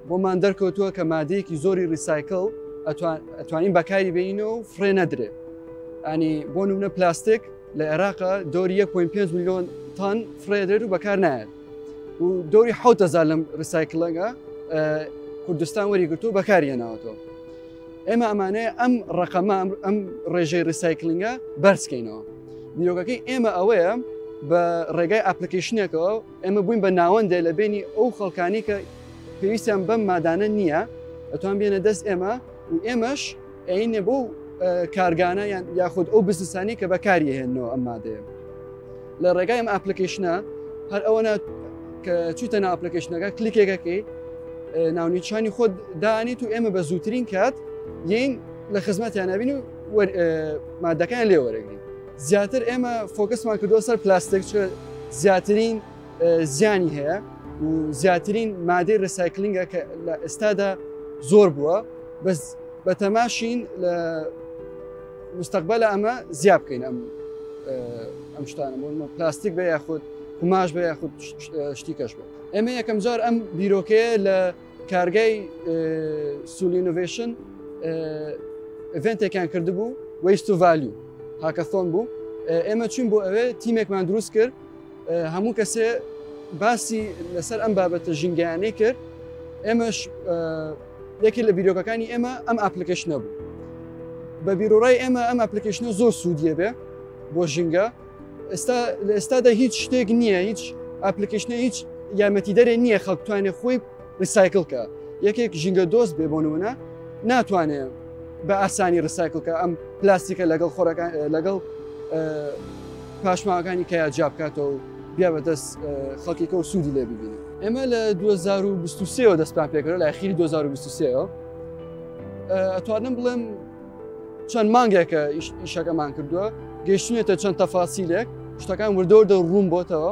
بۆمان دەرکەوتووە کە مادەیەکی زۆری ریسایکل ئەتوانین بەکاری بینە و فرێ نەدرێ ئەنی بۆ نمونە پلاستێک لە عێراقا دۆری 1.5 میلیۆن تان فرێدرێت و بەکار نایێت و دۆری حوتەزار لەم ریسایکلەگە کوردستان وەریگرتو بەکاریە ناوەتەوە ئێمە ئەمانەیە ئەم ڕقەمە ئەم ڕێژەی ڕیسایکلنگە بەرزکەینەوە بیرۆگەکەی ئێمە ئەوەیە بە ڕێگای ئاپلیکیشنێکەوە ئێمە بووین بە ناوەندێ لە بینی ئەو خەڵکانی کە پێویستیان بەم مادانە نییە ئەتوان بێنە دەست ئێمە و ئێمەش ئەینێ بۆ کارگانە یان یاخود ئەو بزنسانی کە بەکاریهێنەوە ئەم مادەیە لە ڕێگای ئەم ئەپلیکیشنە هەر ئەوەنە کە چیتە ناو ئەپلیکیشنەکە کلیکێکەکەی ناونیشانی خۆت دانیت و ئێمە بە زووترین کات یین لە خزمەتیان نبین و مادەکان لێ وەرەگرین زیاتر ئێمە فۆکسمان کردووە سەر پلاستێک زیاترین زیانی هەیە و زیاترین مادەی ڕسایکلنگە کە لە ئێستادا زۆر بووە بەس بە تەماشین لە مستەقبەلە ئەمە زیاد بکەین ئەم ئەم شتانە بۆ پلاستیک بە یاخود قوماش بە یاخود شتی کەش بێت ئێمە یەکەم جار ئەم بیرۆکەیە لە کارگای سولینۆڤشن ئڤنتێکیان کردبوو وەیست و ڤالیو هاکەسۆن بوو ئێمە چون بۆ ئەوێ تیمێکمان دروست کرد هەموو کەسێ باسی لەسەر ئەم بابەتە ژینگەیانەی کرد ئێمەش یەکێ لە بیرۆکەکانی ئێمە ئەم ئاپلیکیشنە بوو بە بیرۆڕای ئێمە ئەم ئاپلیکیشنە زۆر سوودیە بێ بۆ ژینگە ئێستا لە ئێستادا هیچ شتێک نییە هیچ ئاپلیکیشنە هیچ یارمەتی دەرێ نییە خەڵکتوانێ خۆی ریسایکل کە یەکێک ژینگە دۆست بێ بۆ نمونە ناتوانێ بە ئاسانی ریسایکل کە ئەم پلاستیکە لەگەڵ خۆرەکان لەگەڵ پاشماوەکانی کە جا بکاتەوە بیا بە دەست خەڵکیکە و سوودی لێ ببینی ئێمە لە 2023ەوە دەستپان پێکرە لە خیری 2023ەوە ئەتوانم بڵێم چەند مانگێکە ئیشەکەمان کردووە گەیشتێتە چەند تەفاسیلێک شتەکان وردەوردە ڕوون بۆتەوە